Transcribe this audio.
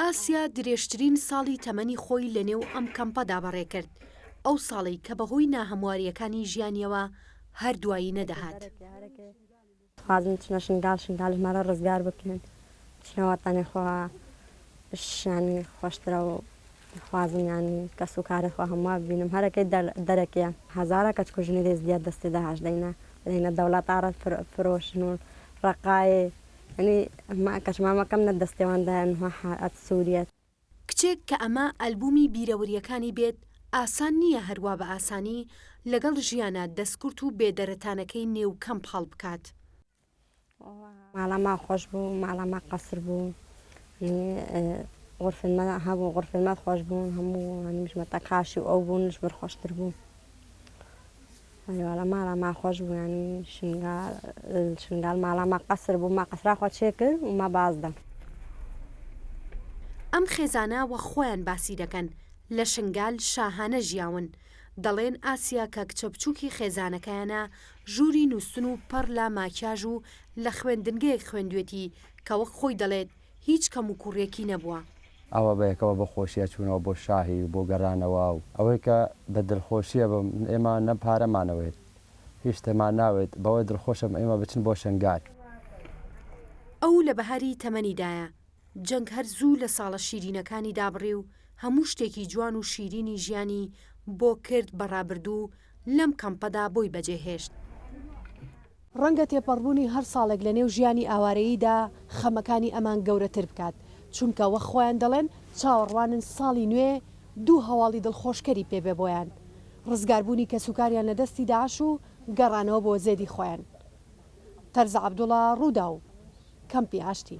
ئاسیا درێژترین ساڵی تەمەنی خۆی لەنێو ئەم کەمپەدا بەڕێکرد، ئەو ساڵەی کە بەهۆی ناهەموارییەکانی ژیانیەوە هەر دوایی نەدەهات. خوازم بچمە شنگال شنگال ژمارە ڕزگار بکەن چونە وەتەنی خۆ شیان خۆشترە و خوازم یانی کەس و کاری خۆ هەموە ببینم هەرەکەی دەرەکیە هەزارە کەچ کو ژنی ێزدیە دەستی داعش دەینە دەینە دەوڵەتاڕ فرۆشن و ڕەقای یەعنی ما کەش مامەکەم نە دەستێوان دایان هوە حائەت سوریە. کچێک کە ئەمە ئەلبومی بیرەوریەکانی بێت ئاسان نیە هەر وا بە ئاسانی لەگەڵ ژیانە دەستکورت و بێ دەرەتانەکەی نێو کەمپ هەڵبکات. ماڵە ما خۆش بوو ماڵە ما قەسر بوو ینی غورفەی ما هەبوو غورفەی ما خۆش بوون هەموو هەنیش مەتەقاشی و ئەو بوونش بەر خۆشتر بوو. مەریوالا مالا ما خوەش بوو یانی شنگا ال شنگال مالا ما قەسر بوو ما قەسرا خوە چێ کرد و ما باز دە. ئەم خێزانە وە خۆیان باسی دەکەن لە شنگال شاهانە ژیاون دەڵێن ئاسیا کە کچە بچوکی خێزانەکەیانە ژوری نوستن و پەڕ لە ماکیاژ و لە خوێندنگەیەک خوێندوێتی کە وەک خۆی دەڵێت هیچ کەم و کوڕیەکی نەبووە. ئەوە بەیەکەوە بە خۆشیە چوونەوە بۆ شاهی و بۆ گەرانەوە و ئەوەی کە بە دلخۆشیە بم ئێمە نە پارەمان ئەوێت هیچ شتێمان ناوێت بەوە دلخۆشم ئێمە بچن بۆ شەنگال. ئەو لە بەهاری تەمەنیدایە، جەنگ هەر زوو لە ساڵە شیرینەکانی دابڕی و هەموو شتێکی جوان و شیرینی ژیانی بۆ کرد بە ڕابردوو لەم کەمپەدا بۆی بەجێهێشت. ڕەنگە تێپەڕبوونی هەر ساڵێک لەنێو ژیانی ئاوارەییدا خەمەکانی ئەمان گەورەتر بکات، چونکە وەک خۆیان دەڵێن چاوەڕوانن ساڵی نوێ دوو هەواڵی دڵخۆشکەری پێ بێ بۆیان، ڕزگاربوونی کەسوکاریان لە دەستی داعش و گەڕانەوە بۆ زێدی خۆیان. تەرزە عەبدوڵا، ڕووداو، کەمپی ئاشتی.